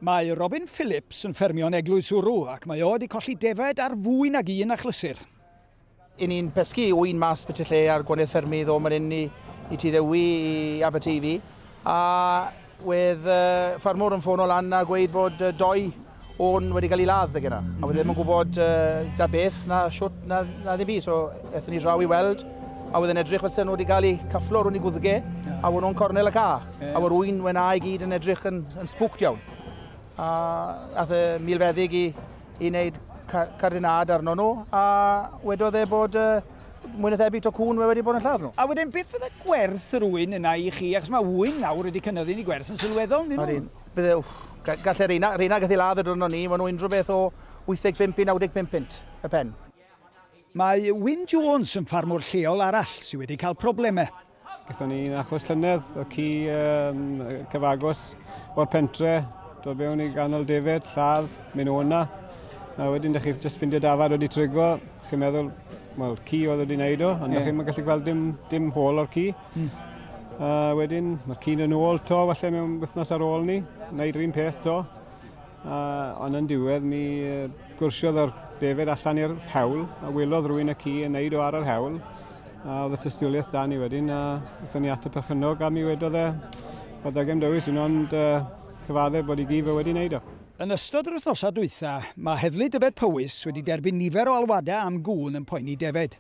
Mae Robin Phillips yn ffermio yn Eglwys Wrw ac mae o wedi colli defaid ar fwy nag un achlysur. I ni'n pescu ŵyn mas byti lle ar gwanydd ffermydd o man inni i Tŷ Ddewi i Aberteifi a wedd uh, ffarmwr yn ffono lan a gweud bod uh, doi o'n wedi cael ei ladd ddeg yna. A wedd ddim yn gwybod uh, da beth na siwt na, na ddim byd. So ethon ni draw i weld a wedd yn edrych fel sy'n nhw wedi cael ei cafflo rhwng i gwddge a wna'n cornel y car. A o'r un wen i gyd yn edrych yn, yn spwct iawn. A ath y milfeddyg i, i wneud cardinad arno nhw, a wedodd e bod uh, mwy na thebyg to cwn wedi bod yn lladd nhw. A wedyn beth fydde gwerth yr ŵyn yna i chi? Achos mae ŵyn nawr wedi cynyddu'n ei gwerth yn sylweddol, nid nhw? Bydde, gallai reina, reina gallu ladd y dwrnod ni, mae nhw unrhyw beth o 85 i 95 pint y pen. Mae Wyn Jones yn ffarmwr lleol arall sydd wedi cael problemau. Gaethon ni un achos llynedd, y ci um, cyfagos o'r pentre, dod mewn i ganol defyd, lladd, mynd o yna. A wedyn, da chi'n just ffindio dafad wedi trigo, chi'n meddwl, wel, ci oedd wedi wneud o, ond yeah. da chi'n gallu gweld dim, dim hôl o'r ci. Mm. A wedyn, mae'r ci'n yn ôl to, falle mewn wythnos ar ôl ni, wneud rhywun peth to. A, ond yn diwedd, mi gwrsiodd o'r defyd allan i'r hewl, a wylodd rwy'n y ci yn neud o ar yr hewl. A oedd y tystiolaeth da ni wedyn, a wnaethon ni at y perchynog a mi wedodd e, oedd da gem dewis un ond uh, cyfaddef bod i gif e wedi wneud o. Yn ystod yr wythnosau dwytha, mae Heddlu Dyfed Powys wedi derbyn nifer o alwadau am gŵn yn poeni defaid.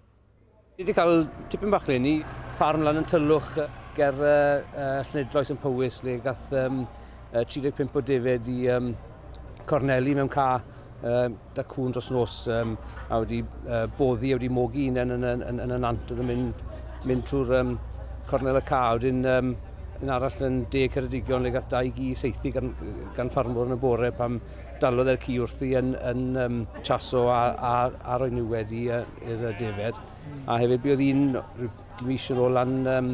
Ni wedi cael tipyn bach leni, ffarm lan yn Tylwch ger uh, uh, Llenedloes yn Powys le gath um, uh, 35 o defaid i um, corneli mewn ca uh, da cwn dros nos um, a wedi uh, boddi, a wedi mogi un yn, yn, yn, yn, yn y nant oedd yn mynd, mynd trwy'r um, cornel y ca. Wedyn um, yn arall yn de Ceredigion le gath dau gi seithi gan, gan ffarmwr yn y bore pam dalodd e'r ci wrthi yn, yn um, chaso a, a, a roi nhw wedi i'r defed. A hefyd bydd un dim eisiau yn ôl yn, um,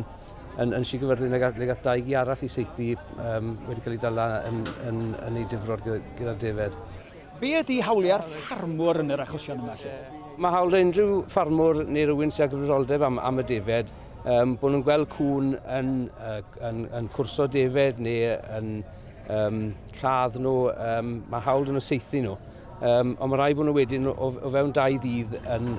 yn, yn Sir le gath, le gath dau gi arall i seithi um, wedi cael ei dala yn, yn, yn, yn ei difrod gyda'r defed. Be ydy hawliau'r ffarmwr yn yr achosion yma felly? Mae hawl unrhyw ffarmwr neu rywun sy'n gyfrifoldeb am, am y defed, um, bod nhw'n gweld cwn yn, uh, yn, yn cwrso defed neu yn um, lladd nhw, um, mae hawl yn y seithi nhw. Um, ond mae rhaid bod nhw wedyn o, o fewn dau ddydd yn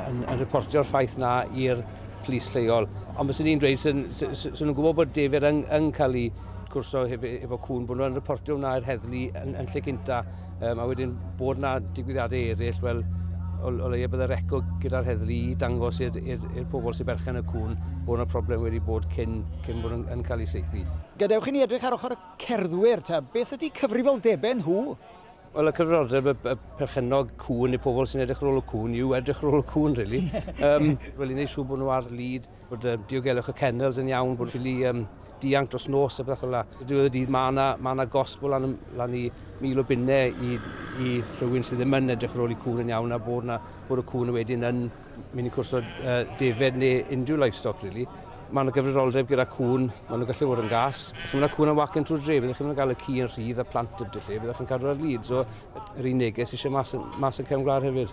yn, yn reportio'r ffaith na i'r plis lleol. Ond bys ni'n dweud sy'n sy, sy, sy nhw'n gwybod bod defer yn, yn cael ei cwrso hefo, hefo cwn, bod nhw'n reportio hwnna i'r heddlu yn, yn lle cynta. Um, a wedyn bod yna digwyddiadau eraill, wel, o, o leia bydd y reco gyda'r heddlu i dangos i'r pobl sy'n berchen y cwn bod yna problem wedi bod cyn, cyn bod yn, yn cael ei seithi. Gadewch i ni edrych ar ochr y cerddwyr, ta beth ydy cyfrifoldebau nhw? Wel y cyfrodeb y, y perchennog cŵn neu pobl sy'n edrych ar ôl y cŵn yw edrych ar ôl y cŵn, really. um, wel, i wneud siŵr bod nhw ar lid, bod um, diogelwch y kennels yn iawn, bod ffili um, dianc dros nos a beth fel yna. Dwi'n y dydd mae yna, ma yna gosb o lan, lan i mil o bunnau i, i rhywun sydd ddim yn edrych ar ôl i cŵn yn iawn a bod, na, bod y cŵn wedyn yn Mae'n cwrs o uh, defed neu unrhyw livestock, really. Mae'n gyfrifoldeb gyda cwn, maen nhw'n gallu fod yn gas. Os mae yna cwn yn wacen trwy'r dre, byddwch chi'n cael y ci yn rhydd a plant y lle, byddwch chi'n cadw ar lid. So, yr un neges eisiau mas, mas yn cefn gwlad hefyd.